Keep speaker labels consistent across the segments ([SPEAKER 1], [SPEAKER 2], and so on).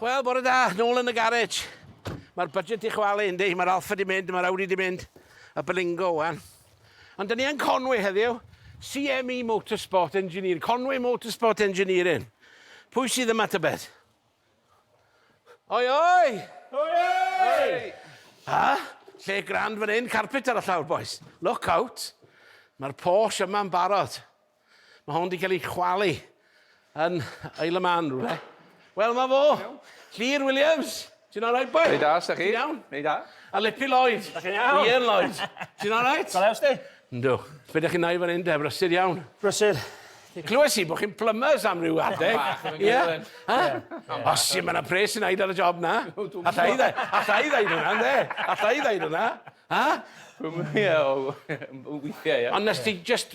[SPEAKER 1] Wel, bore da, nôl yn y garej. Mae'r budget i chwalu, yndi, mae'r alfa di mynd, mae'r Audi di mynd, y Berlingo wan. Ond dyn ni yn Conwy heddiw, CME Motorsport Engineering, Conwy Motorsport Engineering. Pwy sydd yma tybed? Oi, oi! Oi, oi! A, lle grand fan hyn, carpet ar y llawr, boys. Look out! Mae'r Porsche yma'n barod. Mae hwn wedi cael ei chwalu yn Isle of Man rhywle. Wel, mae fo. Llyr Williams. Ti'n alright, boi? Rhaid da, sa'ch chi? Ti'n iawn?
[SPEAKER 2] Rhaid da. A
[SPEAKER 1] Lippy
[SPEAKER 2] Lloyd. Da
[SPEAKER 1] chi'n iawn? Ian Lloyd.
[SPEAKER 3] Ti'n
[SPEAKER 1] alright? Go lews di? Yndw.
[SPEAKER 3] Be da
[SPEAKER 1] chi'n nai fan hyn de? Brysur iawn? Brysur.
[SPEAKER 3] Clywes i bod
[SPEAKER 1] chi'n plumbers am ryw adeg. Bach yn gyrwyd. Os i mae yna pres sy'n aid ar y job na. Alla i ddaid. Alla i ddaid hwnna, de. Alla i ddaid hwnna. Ha?
[SPEAKER 2] Weithiau, ie. Ond nes ti just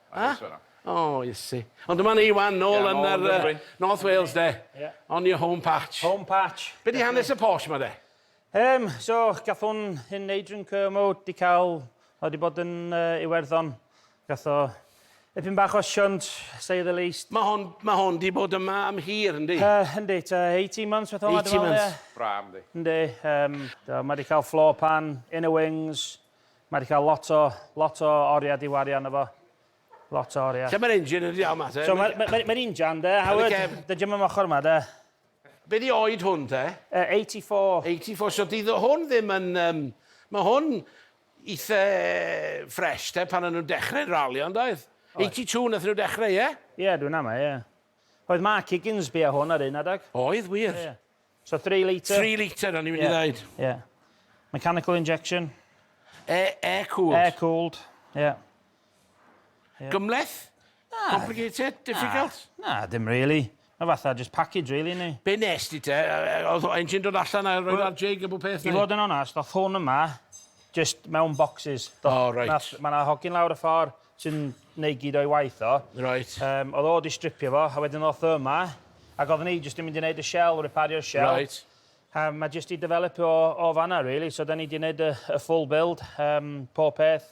[SPEAKER 1] A? O,
[SPEAKER 2] Iesu.
[SPEAKER 1] Ond dyma ni 'wan, nôl yn yr yy North Wales 'de. Ie. On your home patch. Home patch. Be' 'di
[SPEAKER 3] hanes y Porsche
[SPEAKER 1] 'ma 'de? Yym, so,
[SPEAKER 3] gath hwn hyn Adrian Kermode 'di ca'l, o 'di bod yn yy Iwerddon. Gath o ipyn bach o shunt, say the least. Ma' hon, ma' hon 'di
[SPEAKER 1] bod yma am hir yndi? Yy, yndi, tua
[SPEAKER 3] eighteen months fath o 'ma dwi me'wl ie? Eighteen months. Braf
[SPEAKER 1] yndi? Yndi,
[SPEAKER 2] yym,
[SPEAKER 3] do, ma' 'di ca'l floor pan, inner wings, Mae 'di cael lot o, lot o oriau 'di wario arno fo. Lot o oriau. Lle mae'r engine yn iawn ma te?
[SPEAKER 1] So mae'r ma, ma, ma injan
[SPEAKER 3] de, Howard, dy jym am ochr ma de. Be di
[SPEAKER 1] oed hwn te?
[SPEAKER 3] Uh, 84. 84, so di
[SPEAKER 1] hwn ddim yn... Um, mae hwn eitha ffres te pan o'n nhw'n dechrau ralio, ond oedd? 82 nath nhw dechrau, ie? Yeah? Ie, yeah, dwi'n ama, ie.
[SPEAKER 3] Yeah. Oedd Mark Higgins bia hwn ar un adag? Oedd, wir. Yeah.
[SPEAKER 1] So three
[SPEAKER 3] litre? Three litre o'n i'n mynd i
[SPEAKER 1] ddeud. Ie.
[SPEAKER 3] Mechanical injection. Air, air
[SPEAKER 1] cooled. Air cooled, ie.
[SPEAKER 3] Yeah. Yeah.
[SPEAKER 1] Gymleth? Na. Complicated? Difficult? Na, na dim really.
[SPEAKER 3] Mae fatha just package really ni. Be nes di te?
[SPEAKER 1] Oedd engine dod allan a roed ar jig a bod peth ni? I fod yn onast, oedd
[SPEAKER 3] hwn yma just mewn boxes. Oh, right. Mae yna
[SPEAKER 1] hogyn lawr y
[SPEAKER 3] ffordd, sy'n neud gyd o'i waith o. Reit. Yym, oedd o
[SPEAKER 1] 'di stripio
[SPEAKER 3] fo, a wedyn ddoth o yma, ac oedden ni jyst 'di mynd i neud y shell, repario'r shell. Reit. A
[SPEAKER 1] mae jyst 'di
[SPEAKER 3] developio o, o fan'na rili, so 'da ni 'di neud y, y full build, yym, pob peth,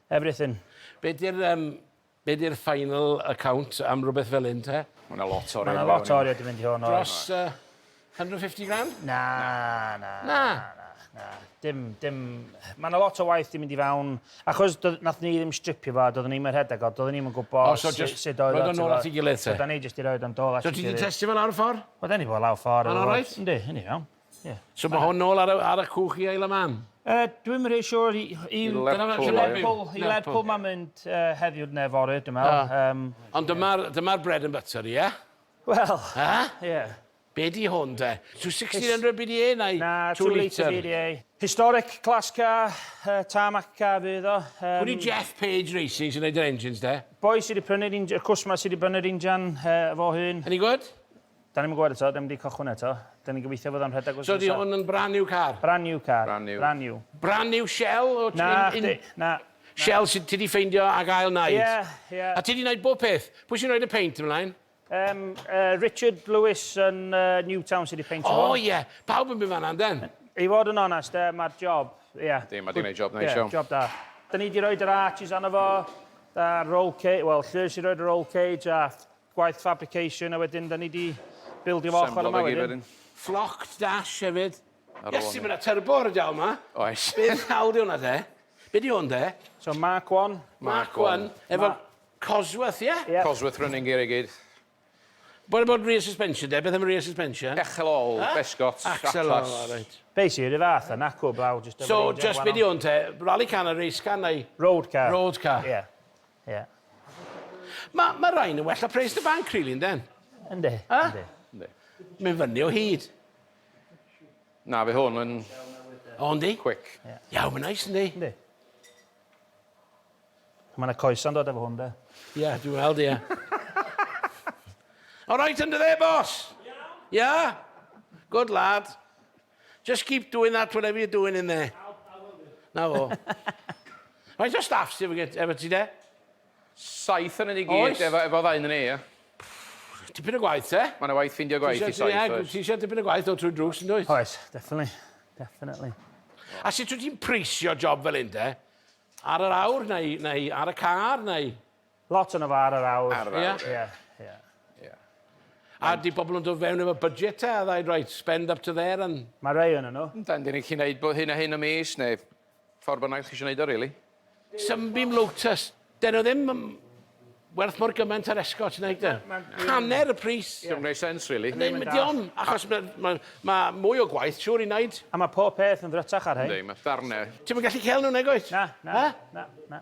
[SPEAKER 3] everything. Be' 'di'r
[SPEAKER 1] yym, be' 'di'r final account am rwbeth fel 'yn te? Ma' 'na lot o arian i mewn i hwn. Ma' 'na
[SPEAKER 2] lot o arian 'di mynd i
[SPEAKER 3] hwn, oes. Dros yy
[SPEAKER 1] 150 grand? Na, na, na, na,
[SPEAKER 3] na. Dim, dim... Mae yna lot o waith di mynd i fewn, achos nath ni ddim stripio fo, doeddwn ni'n rhedeg o, doeddwn ni'n gwybod oh, so just, sut oedd o. Roedd nôl at ei gilydd te? So
[SPEAKER 1] da ni jyst i roed o'n dôl
[SPEAKER 3] at ei gilydd. So ti di testio fel awr
[SPEAKER 1] ffordd?
[SPEAKER 3] Wel, da
[SPEAKER 1] ni fod lawr ffordd.
[SPEAKER 3] Mae'n alright? Yndi, yndi iawn.
[SPEAKER 1] Yeah.
[SPEAKER 3] So mae hwn
[SPEAKER 1] nôl ar, ar y cwch i ail y man? Uh, Dwi'n rhaid
[SPEAKER 3] siwr i, i, i Lerpwl. I Lerpwl mae'n mynd uh, heddiw neu fory, dwi'n meddwl. Um, Ond dyma'r
[SPEAKER 1] dyma bread and butter, ie? Yeah? Wel.
[SPEAKER 3] A? Ie. Be di
[SPEAKER 1] hwn de? To 1600 BDA neu Na, two litre
[SPEAKER 3] BDA. Historic class car, yy tarmac car fydd o. Yym. Pwy di Jeff Page
[SPEAKER 1] Racing sy'n neud yr engines de? Boi sy di prynu'r inj-
[SPEAKER 3] y cwsmer sy di brynu'r injan yy fo hun. Any good?
[SPEAKER 1] Da ni'm yn gwbod eto,
[SPEAKER 3] da ni'm di cychwyn eto. Da ni'n gobeithio fod o'n rhedeg wsnos nesa. So di hwn yn brand new
[SPEAKER 1] car? Brand new car. Brand new.
[SPEAKER 3] Brand new.
[SPEAKER 2] Brand new
[SPEAKER 3] shell
[SPEAKER 1] o ti'n in-? Nacdi, na.
[SPEAKER 3] Shel, sut ti
[SPEAKER 1] 'di ffeindio ac ail wneud? Ie, ie. A ti 'di wneud
[SPEAKER 3] bob peth?
[SPEAKER 1] Pwy sy'n rhoid y peint ymlaen? Yym, yy,
[SPEAKER 3] Richard Lewis yn yy Newtown sy 'di peintio hwn. O ie, pawb yn
[SPEAKER 1] mynd
[SPEAKER 3] fan'na
[SPEAKER 1] ynden? I fod yn onest,
[SPEAKER 3] yy, ma'r job, ie. Yndi, ma' 'di neud job neis
[SPEAKER 2] iawn. Ie, job da. Da ni
[SPEAKER 3] 'di roid yr arches arno fo, a roll ca- wel, Llŷr sy'n roid y roll cage a Gwaith fabrication a wedyn da ni di bildio fo ochr yma wedyn. Flocked dash
[SPEAKER 1] hefyd. Iesu ma' 'na turbo ar y jawl 'ma. Oes. Be' ddiawl
[SPEAKER 2] 'di wnna te?
[SPEAKER 1] Be' 'di 'wn de? So Mark one.
[SPEAKER 3] Mark one.
[SPEAKER 1] Efo Cosworth
[SPEAKER 2] ie?
[SPEAKER 1] Ie. Cosworth
[SPEAKER 2] running
[SPEAKER 1] gear i gyd.
[SPEAKER 2] What
[SPEAKER 1] about rear suspension de? Beth am y rear suspension? Echel ôl, besgot,
[SPEAKER 2] atlas. Axle ôl, o reit.
[SPEAKER 1] Be'
[SPEAKER 2] sy i'r un
[SPEAKER 1] fath a
[SPEAKER 3] nacw blaw jyst efo... So jyst be' 'di
[SPEAKER 1] 'wn te? Rally car na race car neu... Road car. Road car.
[SPEAKER 3] Ie.
[SPEAKER 1] Ie. Ma' ma' rain yn well na pres dy banc rili ynden? Yndi. A? Yndi.
[SPEAKER 2] Yndi. Mae'n fyny o
[SPEAKER 1] hyd.
[SPEAKER 2] Na fe hwn yn... O yndi?
[SPEAKER 1] Quick. Ie. Iawn mae'n
[SPEAKER 2] neis yndi?
[SPEAKER 3] Yndi. Ma' 'na coesa'n dod efo hwn de. Ie dwi weld ie.
[SPEAKER 1] Oreit under there boss? Iawn. Ia? Good lad. Just keep doing that, whatever you're doing in there. Na fo. Faint o staff sydd efo ti de? Saith
[SPEAKER 2] yn unig i gyd efo ddau yn ni, ie.
[SPEAKER 1] Tipyn o gwaith, te? Mae yna waith ffeindio gwaith i
[SPEAKER 2] saith, oes. Ti eisiau tipyn o gwaith o
[SPEAKER 1] trwy drws, yn dwyt? Oes, definitely.
[SPEAKER 3] Definitely. A sut
[SPEAKER 1] wyt ti'n preisio job fel un, de? Ar yr awr, neu, neu ar y car, neu... Lot yn y far
[SPEAKER 3] ar awr. Ar awr, ie. Ie, ie. Ie. A
[SPEAKER 1] di pobl yn dod fewn efo budget te a ddaid right, spend up to there and... Mae rei yn nhw. Yndan,
[SPEAKER 3] dyn ni'n gallu gwneud
[SPEAKER 2] hyn a hyn y mis neu ffordd bynnag chi eisiau gwneud o really. Sunbeam
[SPEAKER 1] Lotus, dyn nhw ddim yn werth mor gymaint ar Escot nag ydyn? Hanner y pris. Diolch yn gwneud sense really.
[SPEAKER 2] Ddim yn diom, achos
[SPEAKER 1] mae ma, ma mwy o gwaith, siwr i wneud. A mae pob peth yn
[SPEAKER 3] ddrytach ar hyn. Yndi, mae darnau. Ti'm
[SPEAKER 2] yn gallu cael nhw nag
[SPEAKER 1] wyt? Na, na, na,
[SPEAKER 3] na.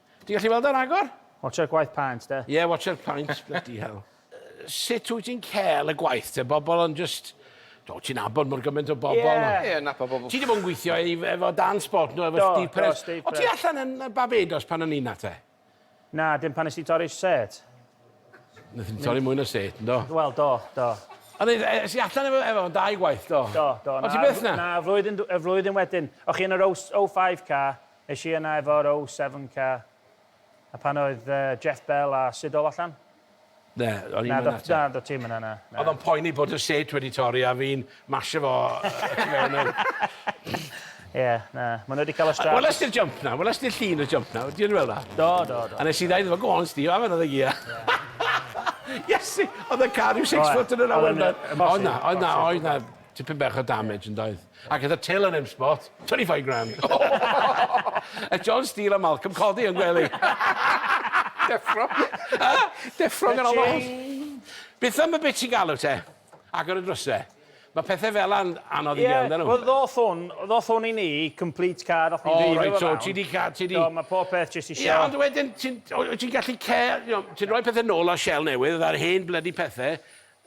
[SPEAKER 1] Ti'n gallu weld o ragor? Watsio'r gwaith paent
[SPEAKER 3] de. Ie watsio'r paent
[SPEAKER 1] bloody hell. Sut wyt ti'n cael y gwaith te? Bobl yn jyst Do, ti'n abod mor gymaint o bobl. Ie. Ie, nabod bobl. Ti
[SPEAKER 2] 'di bod yn gweithio i
[SPEAKER 1] efo Dan Spot do efo Steve Perez. Do, do, Steve Perez. O' ti allan yn yy Barbados pan o'n i 'na te? Na, dim
[SPEAKER 3] pan nes di torri set.
[SPEAKER 1] Nethon ni torri mwy na set, yndo? Wel, do, do.
[SPEAKER 3] Ond e- e- es
[SPEAKER 1] i allan efo efo fo'n dau gwaith do? Do, do. O' ti byth 'na?
[SPEAKER 3] Na,
[SPEAKER 1] flwyddyn dw- y flwyddyn
[SPEAKER 3] wedyn. O' chi yn yr O's- o five car. Es i yna efo'r O Seven ca a pan oedd Jeff Bell a Siddle allan? Na, o'n
[SPEAKER 1] i'm yna 'te. Na, do ti'm yna na.
[SPEAKER 3] Oedd o'n poeni bod y
[SPEAKER 1] set wedi torri a fi'n masho fo y tu mewn nawr.
[SPEAKER 3] Ie, na, ma' nw wedi ca'l y strap. Weles di'r jump 'na? Weles
[SPEAKER 1] di'r llun y jump 'na? Ti wedi weld 'na? Do, do, do. A nes i ddeud
[SPEAKER 3] iddo fo go
[SPEAKER 1] on Steve 'ave another gear. Iesu! Oedd y car ryw six foot yn yr awyr 'na. Oedd na, oedd na, oedd na. Tipyn bach o damage yn doedd? Ac gyda Till yn M Spot, 25 grand! Aeth John Steel a Malcolm Coddy yn gwely. Deffro. Deffro gan ganol nos. Beth am y bit ti'n galw te? Agor y drysau. Mae pethau fel yna'n anodd i gael, dyn nhw. Wel, ddoth hwn,
[SPEAKER 3] ddoth hwn i ni, complete card, o'ch ni'n rhoi fe fewn. Ti di cael,
[SPEAKER 1] ti di... Mae pob
[SPEAKER 3] peth jyst isio... Ie, ond wedyn,
[SPEAKER 1] ti'n gallu cael, ti'n rhoi pethau nôl ar shell newydd, a'r hen bloody pethau,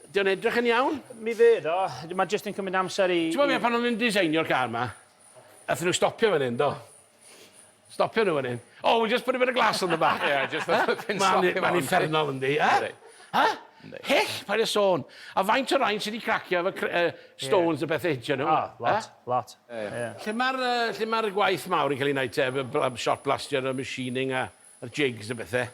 [SPEAKER 1] 'Di o'n edrych yn iawn? Mi fydd o.
[SPEAKER 3] Mae jyst yn cymryd amser i... T'mod be, pan oedden nhw'n designio'r
[SPEAKER 1] car 'ma, aethon nhw stopio fan hyn, do? Stopio nhw fan hyn. Oh, we'll just put a bit of glass on the back. Ie, jyst y ffin slap
[SPEAKER 2] i mewn. Mae'n uffernol, yndi? Yy? Yy?
[SPEAKER 1] Yndi. Hyll, paid â sôn. A faint o rain sy' 'di cracio efo cr- yy stones a bethe hitio nhw? O, lot, lot. Ie,
[SPEAKER 3] ie. Lle ma'r
[SPEAKER 1] yy lle ma'r gwaith mawr yn cael ei wneud te? Efo bl- shot blastio a machining a a'r jigs a bethe?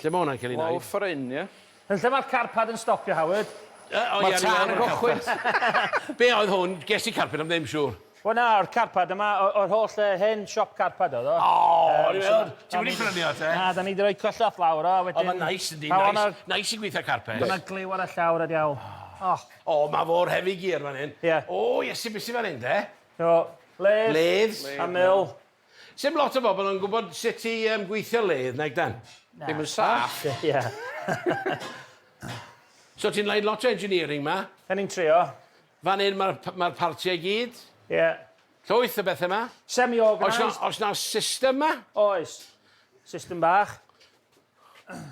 [SPEAKER 1] Lle ma' hwnna'n cael ei wneud? Lawr ffor hyn, ie?
[SPEAKER 2] Yn lle mae'r carpad
[SPEAKER 3] yn stopio, Howard. Yy, o ie... Mae'r tân yn
[SPEAKER 2] cychwyn! Be' oedd
[SPEAKER 1] hwn? Ges i carped am ddim siŵr. Wel na, yr carpad
[SPEAKER 3] yma, o- o'r holl le, hen siop carpad oedd o. O! Ie,
[SPEAKER 1] ti wedi prynu o te? Na, 'dan ni 'di roi cyswllt
[SPEAKER 3] lawr o, a wedyn... O, ma'n neis yndi,
[SPEAKER 1] neis, neis i gweithio carped. Ma' 'na gliw ar y llawr,
[SPEAKER 3] a diawl. O! O, ma'
[SPEAKER 1] fo'r heavy gear fan hyn. Ie. O, Iesu, be'
[SPEAKER 3] sy fan
[SPEAKER 1] hyn te? O, laths...
[SPEAKER 3] Laths. ...a mill. Sim lot o
[SPEAKER 1] bobl yn gwybod sut i um, gweithio ledd, nag dan? Na. Ddim yn saff. Ie. so ti'n leid lot o engineering ma? Da ni'n trio.
[SPEAKER 3] Fan hyn
[SPEAKER 1] mae'r ma partiau i gyd? Ie. Yeah.
[SPEAKER 3] Llwyth o
[SPEAKER 1] bethau ma? Semi-organised. Os,
[SPEAKER 3] os na system
[SPEAKER 1] ma? Oes.
[SPEAKER 3] System bach.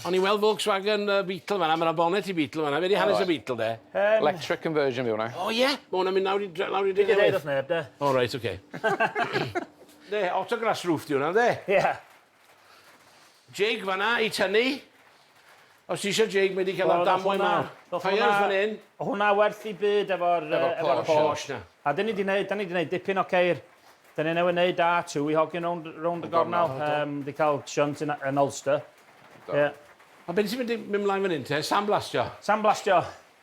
[SPEAKER 1] O'n i'n weld Volkswagen yy Beetle fan 'na ma' 'na bonnet i Beetle fan 'na. Be' 'di hanes y Beetle de? Yym. Electric conversion
[SPEAKER 2] yw wnna. O ie? Ma' wnna'n mynd lawr
[SPEAKER 1] i dre- lawr i dre newydd? Dim yn
[SPEAKER 3] deud wrth
[SPEAKER 1] neb de. O
[SPEAKER 3] reit oce.
[SPEAKER 1] Yndi autograss roof 'di wnna yndi? Ie.
[SPEAKER 3] Jig
[SPEAKER 1] fan 'na i tynnu. Os ti isio jig mae 'di ca'l y damwain 'ma. Tyres fan 'yn. O' hwnna werth 'i
[SPEAKER 3] byd efo'r yy efo'r Porsche. Efo'r Porsche 'na. A 'dyn ni 'di neud 'dan ni 'di neud dipyn o ceir. Dyn ni newydd wneud da, two i hogyn rownd, rownd y gornel, um, di cael shunt yn, yn Ulster. Yeah.
[SPEAKER 1] A beth sy'n mynd i mynd mlaen fan hyn te? Sandblastio? Sandblastio.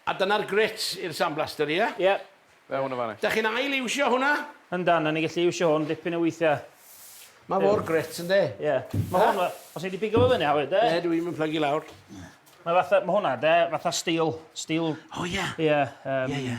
[SPEAKER 3] A dyna'r
[SPEAKER 1] grit i'r sandblaster, ie? Yeah? Ie. Yeah. Fe hwn o
[SPEAKER 3] fan Da
[SPEAKER 2] chi'n ail iwsio hwnna?
[SPEAKER 1] Yndan, a ni gallu
[SPEAKER 3] iwsio hwn dipyn o weithiau. Mae mor
[SPEAKER 1] grit yn de? Ie. Yeah. Mae hwn,
[SPEAKER 3] os ni wedi pigo fo fyny, Howard, de? Ne, dwi i'n mynd plygu lawr.
[SPEAKER 1] Mae fatha,
[SPEAKER 3] mae hwnna, de, fatha steel, steel... O, ie.
[SPEAKER 1] Ie. Ie, ie.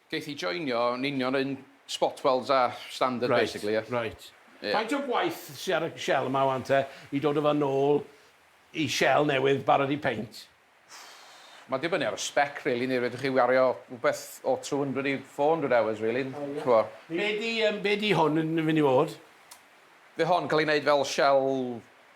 [SPEAKER 1] Geith hi joinio
[SPEAKER 2] yn union yr un spot welds a standard basically ie? Reit, reit. Faint o
[SPEAKER 1] gwaith sy ar y shell yma wan te i dod a fe nôl i shell newydd barod i peint?
[SPEAKER 2] Mae'n dibynnu ar y spec rili neu fedrwch chi wario rhywbeth o 200 i 400 hours rili, ch'mod. Be' 'di
[SPEAKER 1] yym be' 'di hwn yn myn' i fod? Fydd hon
[SPEAKER 2] yn ca'l ei neud fel shell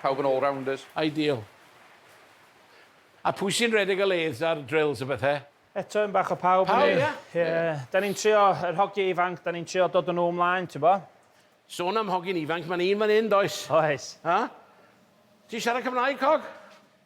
[SPEAKER 2] Pawb yn all-rounders. Ideal.
[SPEAKER 1] A pwy sy'n redeg y lathes a'r drills a bethe? Eto un bach o pawb
[SPEAKER 3] yn neud. Pawb ie? Ie.
[SPEAKER 1] Da ni'n
[SPEAKER 3] trio, yr hogie ifanc, da ni'n trio dod a nhw ymlaen, t'bo? Sôn am
[SPEAKER 1] hogyn ifanc, ma' 'na un fan 'yn does? Oes. Ha? Ti'n siarad Cymraeg cog?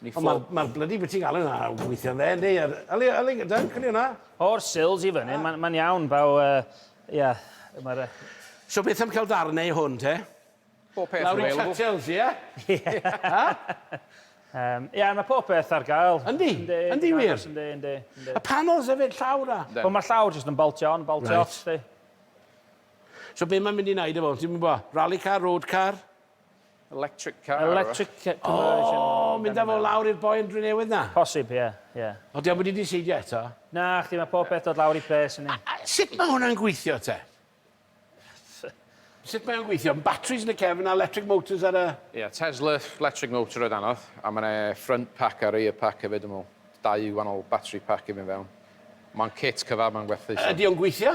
[SPEAKER 1] Ni ffwc. Ond ma'r blydi be' ti'n galw 'na yn gweithio ynde? Yndi yr yli yli gyda'r cyni wnna. O'r sills i
[SPEAKER 3] fyny ma'n ma'n iawn baw yy ie ma'r yy...
[SPEAKER 1] So beth am ca'l darn neu hwn te? Pob peth
[SPEAKER 2] available. Lawr i Tatels ie? Ie.
[SPEAKER 1] Ha?
[SPEAKER 3] Yym ie ma' pob peth ar gael. Yndi? Yndi. Yndi
[SPEAKER 1] wir? Yndi yndi yndi. Y
[SPEAKER 3] panels
[SPEAKER 1] efyd llawr a... Wel ma'r llawr jyst yn
[SPEAKER 3] boltio on boltio off 'sti.
[SPEAKER 1] So be' ma'n mynd i neud efo hwn ti'm yn gwbo? Rally car, road car? Electric
[SPEAKER 2] car. Electric ca- conversion.
[SPEAKER 3] O! Mynd â fo
[SPEAKER 1] lawr i'r boi yn Drenewydd 'na? Posib, ie, ie.
[SPEAKER 3] O, 'di o'm wedi
[SPEAKER 1] diseidio eto? Nachdi, ma' pob
[SPEAKER 3] peth dod lawr i pres yndi? A a sut ma' hwnna'n gweithio
[SPEAKER 1] te? Sut mae o'n gweithio? M- batteries yn y cefn a 'lectric motors ar y... Ie, Tesla
[SPEAKER 2] 'lectric motor oedd anodd, a ma' 'na front pack a rear pack hefyd dwi me'wl. Dau wanol battery pack i fynd fewn. Ma'n kit cyfan ma'n gwerthu so... Ydi o'n gweithio?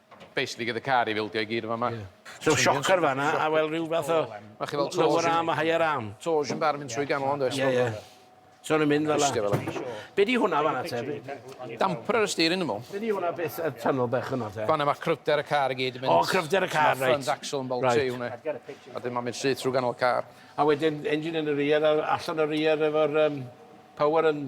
[SPEAKER 2] Basically gyda car i fildio i gyd yn fama. So shocker fan
[SPEAKER 1] 'na a wel rhyw fath o Ma' chi fel lower arm
[SPEAKER 2] a higher arm.
[SPEAKER 1] Toes yn barn mynd trwy ganol
[SPEAKER 2] on'd oes? Ie ie.
[SPEAKER 1] So nw'n mynd fel 'a. Be' 'di hwnna fan 'na te? Damper
[SPEAKER 2] ar y steering dwi me'wl. Be' 'di hwnna beth y
[SPEAKER 1] tunnel bech hwnna te? Fan 'na ma' cryfder y car
[SPEAKER 2] i gyd yn mynd. O cryfder y car reit. Front
[SPEAKER 1] axle yn boltio
[SPEAKER 2] i hwnne. A 'dyn ma'n mynd syth trw ganol y car. A wedyn engine
[SPEAKER 1] yn y rear a allan y rear efo'r yym power yn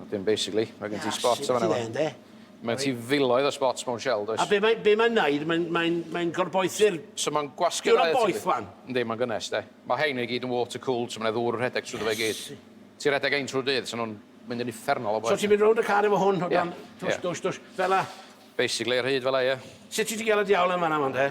[SPEAKER 2] Wedyn basically, mae gen ti spots yn fan'na. Ie, Mae ti filoedd o spots mewn shell, does? A be mae'n be mae wneud,
[SPEAKER 1] mae'n mae mae gorboethu'r... So mae'n gwasgu... Diwrnod
[SPEAKER 2] boeth wan? Yndi,
[SPEAKER 1] mae'n gynnes de.
[SPEAKER 2] Mae hein i gyd yn water cooled, so mae'n ddŵr yn rhedeg trwy dy fe i gyd. Ti'n rhedeg ein trwy'r dydd, so nhw'n mynd yn uffernol o boeth. So ti'n mynd rownd y car efo hwn, o
[SPEAKER 1] dan, dwsh, dwsh, dwsh, fel la? Basically, ar hyd fel
[SPEAKER 2] la, ie. Sut ti di gael y diawl
[SPEAKER 1] yn fan'na wan de?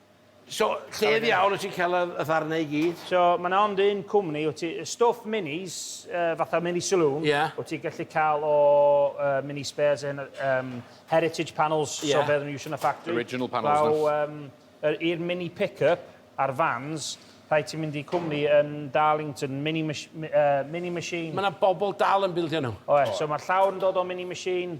[SPEAKER 3] So,
[SPEAKER 1] lle ddiawl wyt ti'n cael y ddarnau i gyd? So, mae yna ond un
[SPEAKER 3] cwmni, wyt ti, y stwff minis, yy, fatha mini saloon, Ie. wyt ti'n gallu cael o yy mini spares yn yym heritage panels, Ie. so be oedden nhw'n iwsio yn y ffactri. Original panels 'na. Fel yym
[SPEAKER 2] yr i'r mini
[SPEAKER 3] pick-up a'r vans, rhaid ti mynd i cwmni yn Darlington, mini mach- m- yy mini machine. Mae yna bobl
[SPEAKER 1] dal yn bildio nhw. Oes, so mae'r llawr yn dod
[SPEAKER 3] o mini machine.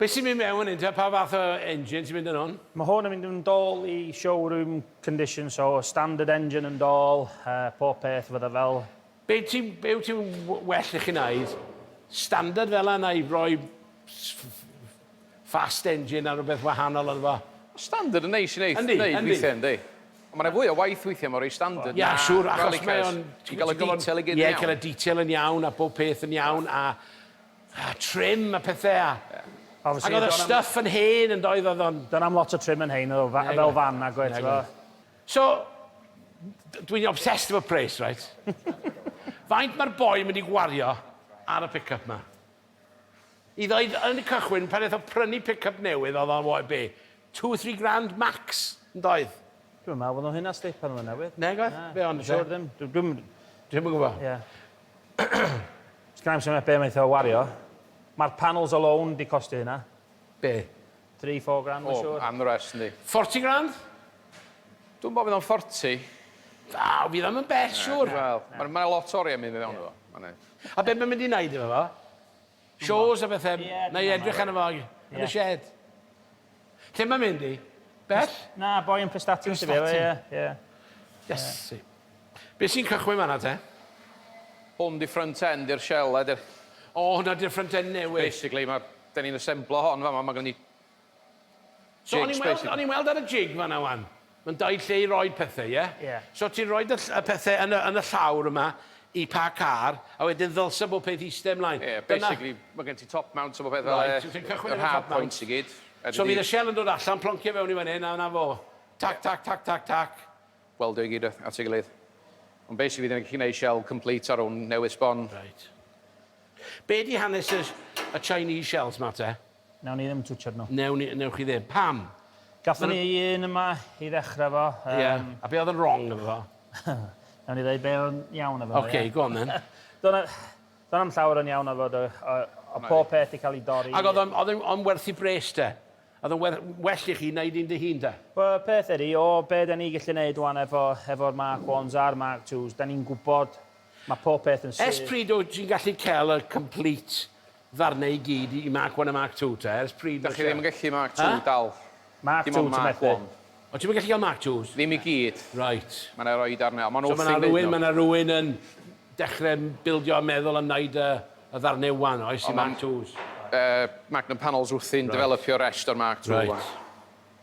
[SPEAKER 1] Be sy'n mynd mewn yn un? Pa fath o engine sy'n mynd yn hwn? Mae hwn yn mynd yn dol
[SPEAKER 3] i showroom condition, so standard engine yn dol, pob peth fydda fel. Be
[SPEAKER 1] yw ti'n well i chi wneud? Standard fel yna neu rhoi fast engine a rhywbeth wahanol ynddo fo? Standard yn neis i
[SPEAKER 2] wneud weithiau yndi?
[SPEAKER 1] Ond mae yna
[SPEAKER 2] fwy o waith weithiau mae rhoi standard na rallycars.
[SPEAKER 1] Ti'n cael
[SPEAKER 2] y
[SPEAKER 1] detail i gyd yn
[SPEAKER 2] iawn. Ie, cael y detail yn iawn
[SPEAKER 1] a bob peth yn iawn a. A trim a pethe a... Ie. Ag o'dd y stuff yn hen yndoedd o'dd o'n... Do'n am lot o trim yn hen
[SPEAKER 3] o'dd o fa- fel fan nag oedd t'mo'? So
[SPEAKER 1] d- dwi'n obsessed efo pres reit? Faint ma'r boi mynd i gwario ar y pick up 'ma? I ddeud yn y cychwyn pan neth o prynu pick up newydd o'dd o what a' be? Two three grand max yndoedd? Dwi'm yn me'wl bo' nw hynna
[SPEAKER 3] sti pan o'dd e'n newydd. Nag oedd? Be' ond...
[SPEAKER 1] Siŵr ddim. Dw- dwi'm...
[SPEAKER 3] Dwi'm yn gwbo.
[SPEAKER 1] Ie.
[SPEAKER 3] Sgynna i'm syniad be wnaeth o wario. Mae'r panels alone 'di costio hynna. Be?
[SPEAKER 1] Three, four
[SPEAKER 3] grand mae'n siŵr. O, am the rest yndi. Forty
[SPEAKER 2] grand? Dwi'm bo' fydd o'n forty. Na,
[SPEAKER 1] fydd o'm yn bell siŵr. Wel, ma' 'na lot o
[SPEAKER 2] oriau mynd i fewn iddo fo. A be mae'n mynd
[SPEAKER 1] i wneud efo fo? Shows a bethe, na i edrych arno fo yn y shed. Lle mae'n mynd i? Bell? Na, boi yn
[SPEAKER 3] Prestatyn sydd efo e. Iesu.
[SPEAKER 1] Be sy'n cychwyn fanna te? Hwn
[SPEAKER 2] di front end i'r shell head. O, hwnna di'r
[SPEAKER 1] front end newydd. Basically, 'da ni'n
[SPEAKER 2] asemblo hon fama, mae gen i
[SPEAKER 1] So o'n i'n weld, o'n i'n weld ar y jig
[SPEAKER 2] fan'na
[SPEAKER 1] ŵan, mae'n dau lle i roid pethe, ie? Ie. So ti'n rhoid y
[SPEAKER 3] ll- y
[SPEAKER 1] pethe yn y yn y llawr yma i pa car, a wedyn ddylse bob peth iste ymlaen. Ie, basically ma'
[SPEAKER 2] gen ti top mount a bob peth fel 'e. Reit, so ti'n cychwyn ar y top mount. Yr hard
[SPEAKER 1] points i gyd.
[SPEAKER 2] So
[SPEAKER 1] fydd
[SPEAKER 2] y shell yn dod
[SPEAKER 1] allan, ploncio fewn i fan 'yn, a 'na fo. Tac, tac, tac, tac, tac. Weldio i gyd
[SPEAKER 2] at ei gilydd. Ond basically fydd e'n gallu neud shell complete ar wn newydd sbon. Reit.
[SPEAKER 1] Be' 'di hanes y y Chinese shells 'ma te? Newn ni ddim twtshad
[SPEAKER 3] nhw. Newn ni, newch chi ddim. Pam?
[SPEAKER 1] Gathon ni
[SPEAKER 3] un yma i ddechrau efo. Ie, a be oedd yn
[SPEAKER 1] wrong efo fo? Newn ni
[SPEAKER 3] ddeud be oedd yn iawn efo fo, ie? Ocê, go on then. Doedd
[SPEAKER 1] 'na, doedd
[SPEAKER 3] 'na'm llawer yn iawn efo fo, doedd. Oedd pob peth 'di cael ei dorri. Ac oedd o'n, oedd o'n, o'n werth
[SPEAKER 1] i bres de? Oedd o'n werth, well i chi wneud un dy hun de? Wel, y peth ydy, o
[SPEAKER 3] be' 'da ni gallu neud ŵan efo, efo'r Mark Ones a'r Mark Twos, 'da ni'n gwbod, ma' pob peth yn syth. Ers pryd wyt ti'n gallu
[SPEAKER 1] cael y complete Ddarnau i gyd i Mark One a Mark Two te, ers pryd ma' Dach chi ddim yn gallu Mark Two
[SPEAKER 2] dal. Mark Two ti
[SPEAKER 3] methu?
[SPEAKER 2] O
[SPEAKER 3] ti'm yn gallu
[SPEAKER 2] cael Mark
[SPEAKER 1] Twos? Ddim i gyd. Reit.
[SPEAKER 2] Ma' 'na roi
[SPEAKER 1] darnau, ond ma'n
[SPEAKER 2] wrth ei fodd nhw. So ma' 'na rywun, ma' 'na rywun yn
[SPEAKER 1] dechre bildio a meddwl am wneud y y ddarnau One oes, i Mark Twos? Yy Magnum
[SPEAKER 2] Panels wrthi'n dyfelopio resht o'r Mark Two One. Reit.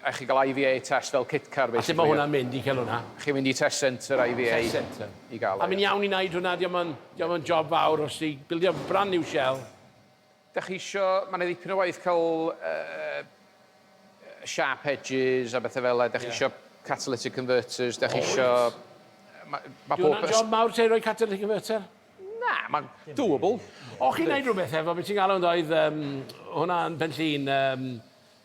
[SPEAKER 1] A
[SPEAKER 2] chi'n cael IVA test fel kit car basically. A sut mae hwnna'n mynd i cael hwnna?
[SPEAKER 1] Chi'n mynd i test centre
[SPEAKER 2] IVA. Test centre. I gael
[SPEAKER 1] e. A mae'n iawn i
[SPEAKER 2] wneud
[SPEAKER 1] hwnna?
[SPEAKER 2] Dio'm
[SPEAKER 1] yn, dio'm yn job fawr os ti bildio brand new shell. Dach chi
[SPEAKER 2] isio, mae yna ddipyn o waith cael yy sharp edges a bethe fel 'na, dach chi isio catalytic converters, dach chi isio... Mae
[SPEAKER 1] pob... Dyw hwnna'n job mawr te i roi catalytic converter? Na, mae'n
[SPEAKER 2] doable. O chi'n wneud
[SPEAKER 1] rhywbeth efo, be ti'n galw yn ddoe, oedd yym hwnna yn Benllyn yym...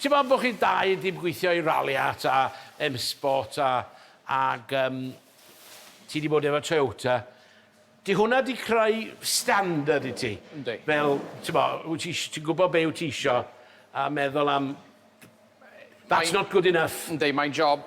[SPEAKER 1] Ti'n meddwl bod chi dau wedi gweithio i Ralliart a M-Sport a ac yym ti wedi bod efo Toyota. Di hwnna wedi creu standard i ti? Yndi. Fel ti'n
[SPEAKER 2] meddwl,
[SPEAKER 1] wyt ti isi- ti'n gwybod be wyt ti isio a meddwl am that's not good enough. Yndi, mae'n job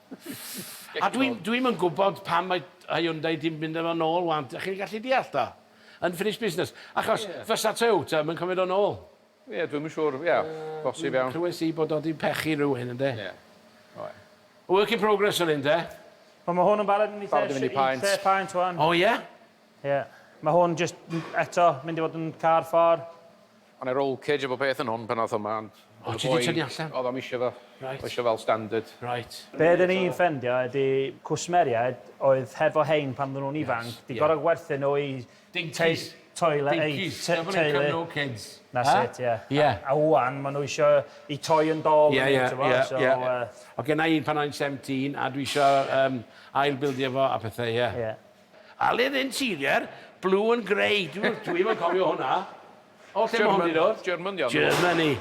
[SPEAKER 1] A dwi dwi'm yn gwybod pam mae Hyundai 'di mynd â fo nôl 'wan, dach chi'n gallu deall do? Unfinished business. Achos fysa Toyota 'im yn cymryd o nôl. Ie, dwi'm yn siŵr,
[SPEAKER 2] ie, bosib iawn. Clywais i bod o 'di pechu
[SPEAKER 1] rywun ynde? Ie.
[SPEAKER 2] Oe. Work in
[SPEAKER 1] progress yr hyn de? Wel ma' hwn yn barod
[SPEAKER 3] yn eitha sh- eitha paent
[SPEAKER 2] ŵan. O ie?
[SPEAKER 1] Ie.
[SPEAKER 3] Ma' hwn jyst eto mynd i fod yn car ffor. O' 'ne roll
[SPEAKER 2] cage a bob peth yn hwn pan ath o mlan. O' ti 'di tynnu
[SPEAKER 1] allan? Odd o'm isio fo. Reit.
[SPEAKER 2] O isio fel standard. Reit. Be' odden
[SPEAKER 1] ni'n ffendio
[SPEAKER 3] ydi cwsmeriaid oedd hefo rhein pan odden nhw'n ifanc... Yes ie. ...'di gor'o' gwerthu nhw i... Dincis.
[SPEAKER 1] ...teulu eu...
[SPEAKER 3] Dincis. ...te- teulu.
[SPEAKER 1] Never
[SPEAKER 3] eat no kids.
[SPEAKER 1] That's it ie.
[SPEAKER 3] Ie. A a ŵan ma'
[SPEAKER 1] nhw
[SPEAKER 3] isio 'u toy and doll yn eu t'bo' so yy... Ie ie ie ie.
[SPEAKER 1] O' genna i un pan o'n i'n seventeen a dwi isio yym ail bildio fo a pethe ie. Ie. Aled Interior, Blue and Grey, dw- dwi ddim yn cofio hwnna. O lle ma' hwn 'di dod? German 'di o ynddo fo. Germany.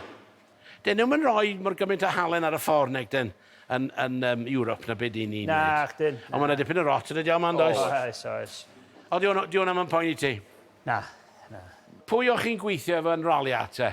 [SPEAKER 1] 'Dyn nhw'm yn rhoi mor gymaint o halen ar y ffordd nag 'dyn yn yn yym Europe na be' 'dyn ni'n neud. Nach'dyn, na. Ond ma' 'na
[SPEAKER 3] dipyn
[SPEAKER 1] o rot
[SPEAKER 3] yn y
[SPEAKER 1] diawl 'ma yndoes? Oes. Oes oes.
[SPEAKER 3] O 'di hwn- 'di
[SPEAKER 1] hwnna 'm yn poeni ti? Na, na.
[SPEAKER 3] Pwy
[SPEAKER 1] o chi'n gweithio efo yn Rolia te?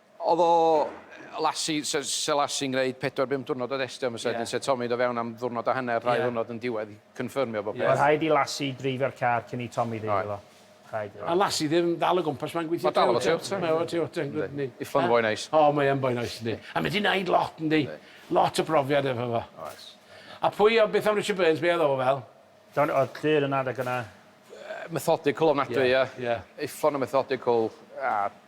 [SPEAKER 1] Oedd o,
[SPEAKER 2] Lassie, se- se Lassie yn gwneud pedwar bum diwrnod o destio am y set, Ie. yn set Tommy do fewn am ddiwrnod a hanner, rhai Ie. ddiwrnod yn diwedd i confyrmio bob Ie. peth. Oedd rhaid i Lassie
[SPEAKER 3] dreifio'r car cyn i Tommy ddeud iddo. Rhaid iddo. A Lassie ddim
[SPEAKER 1] dal o gwmpas, mae'n gweithio Mae dal efo Toyota. Mae efo
[SPEAKER 2] Toyota yn gwd yndi?
[SPEAKER 1] Iffon yn foi neis.
[SPEAKER 2] O mae yn boi neis yndi.
[SPEAKER 1] A mae di neud lot yndi? Yndi. Lot o brofiad efo fo. Oes. A pwy o- beth am Richard Burns, be oedd o fel? Don- oedd clir
[SPEAKER 3] yn adeg yna. Yy methodical
[SPEAKER 2] ofnadwy ia. Ia. Iffon yn methodical a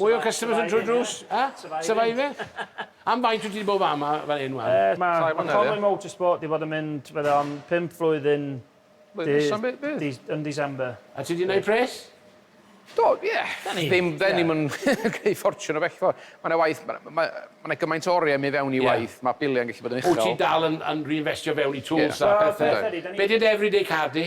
[SPEAKER 1] Mwy o customers yn trwy'r drws? A? Surviving? Am faint wyt ti 'di bod fama fel hyn 'wan? Yy ma' ma' Conwy
[SPEAKER 3] Motorsport 'di bod yn mynd fydde fo'n pump flwyddyn dy- yn December. A ti 'di neud pres?
[SPEAKER 1] Do,
[SPEAKER 2] ie. Ddim, 'dyn ni'm yn gneud ffortiwn o bechgfwrdd. Ma' 'na waith, ma' 'na ma' 'na gymaint o oriau yn mynd fewn i waith, ma' biliau'n gallu bod yn uchel. Wyt ti dal yn yn
[SPEAKER 1] reinfestio fewn i tools a pethe? Be' 'di dy everyday car di?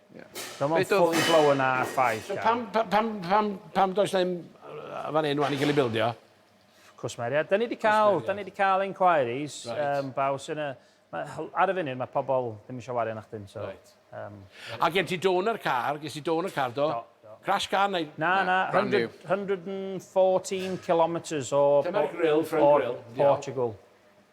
[SPEAKER 3] Fel mae'n fully blown na ffaith, Car. Pam, pam,
[SPEAKER 1] pam,
[SPEAKER 3] pam does
[SPEAKER 1] na ddim fan hyn wan i gael ei bildio? Cwsmeriaid.
[SPEAKER 3] Da ni wedi cael, da ni wedi cael inquiries, um, baw sy'n y... Ar y funud, mae pobl ddim eisiau wario na chdi'n, so... Right. Um, A gen
[SPEAKER 1] ti dôn ar car, gen ti dôn ar car, do? Do. Crash car neu... Na, na, 100, 114
[SPEAKER 3] kilometres o... Dyma'r grill, front
[SPEAKER 1] grill. Portugal.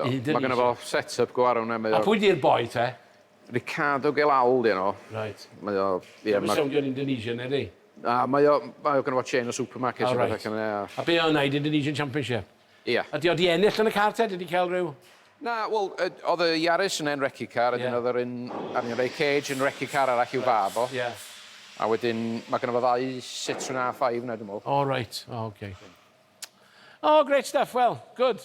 [SPEAKER 3] Hyd yn Mae gynno fo
[SPEAKER 2] set up go arw na mae o. A pwy di'r boi te?
[SPEAKER 1] Ricardo
[SPEAKER 2] Gelal di enw. Reit. Mae o
[SPEAKER 1] ie ma.
[SPEAKER 2] Mae'n soundio'n Indonesian
[SPEAKER 1] ydi? Na mae o
[SPEAKER 2] mae o gynno fo chain o supermarkets a petha cyn ia. A
[SPEAKER 1] be' o'n neud Indonesian Championship? Ia. A di o di
[SPEAKER 2] ennill yn y
[SPEAKER 1] car te? Di di cael rhyw? Na wel
[SPEAKER 2] oedd y Yaris yn en recu car a dyn oedd yr un Arian Ray Cage yn recu car arall i'w fab o. Ia. A
[SPEAKER 1] wedyn
[SPEAKER 2] mae gynno fo ddau Citroen A5 na dwi'n meddwl. O reit o ok.
[SPEAKER 1] O great stuff wel good.